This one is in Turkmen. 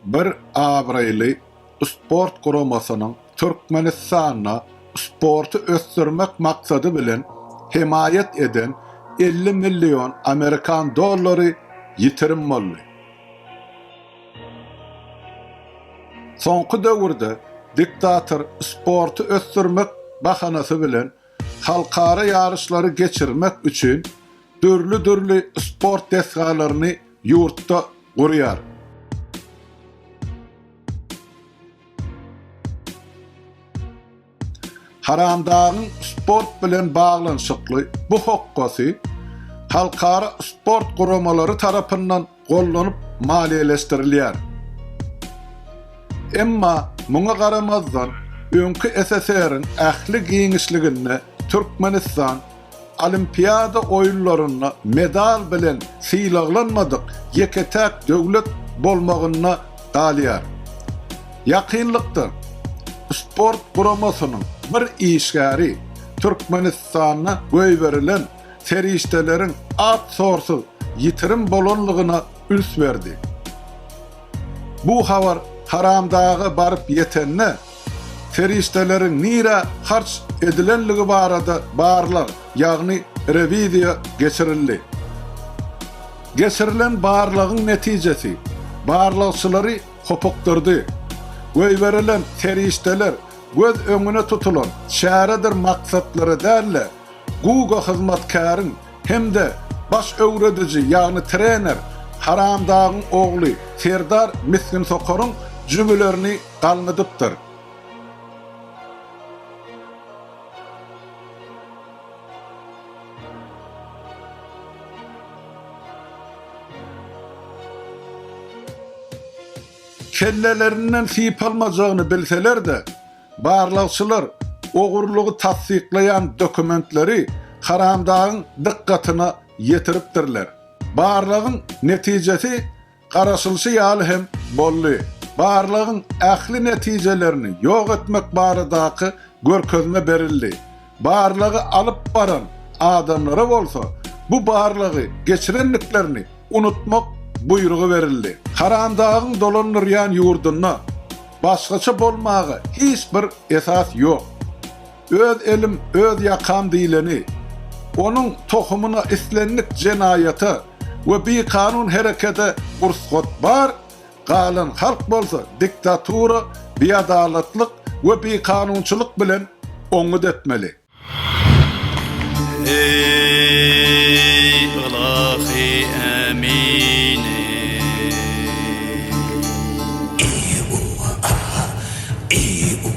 Bir abraýly sport guramasynyň Türkmenistanda sporty ösdürmek maksady bilen hemaýat eden elli million amerikan dollary ýitirim boldy. Soňky döwürde diktator sporty ösdürmek bahanasy bilen halkara ýaryşlary geçirmek üçin dürli-dürli sport desgalaryny Ýurtda gurýar. Haramdagyň sport bilen baglanyşykly bu hokgasy halkara sport guramalary tarapyndan gollanyp maliýeleşdirilýär. Emma muňa garamazdan, öňki SSR-iň ähli giňişliginde Türkmenistan Olimpiada oýunlarynda medal bilen sylaglanmadyk ýeke-täk döwlet bolmagynda galýar. Ýakynlykda sport guramasynyň bir işgäri Türkmenistanda goýberilen serişdeleriň at-sorsyz ýitirim bolanlygyna üns berdi. Bu habar Haramdaga baryp ýetende, Serişdeleriň nirä harç edilenligi barada barlag, ýagny rewiziýa geçirildi. Geçirilen barlagyň netijesi barlagçylary hopukdyrdy. Goýberilen serişdeler göz öňüne tutulan çäredir maksatlara däl-de, GUG-a hyzmatkäriň hem-de baş öwrediji, ýagny trener Haramdagyň ogly Serdar Misginsokaryň jübülerini galňydypdyr. Kellelerinden sypalmajagyny bilseler-de, barlagçylar ogurlygy tassyklaýan dokumentleri Haramdagyň dykgatyna ýetiripdirler. Barlagyň netijesi Garaşylyşy ýaly hem boldy. Barlagyň ähli netijelerini ýok etmek baradaky görkezme berildi. Barlagy alyp baran adamlara bolsa bu barlagy geçirendiklerini unutmak buýrugy berildi. Haramdagyň dolandyrýan ýurdunda başgaça bolmaga hiç bir esas ýok. Öz elim, öz ýakam diýleni, onuň tohumyna islendik jenaýata we bikanun herekede ursgat bar, galan halk bolsa diktatura, biadalatlyk we bikanunçylyk bilen oňňut etmeli. Eý, ylahy Ämini! Eý, Uwa aga! Eý, Uwa!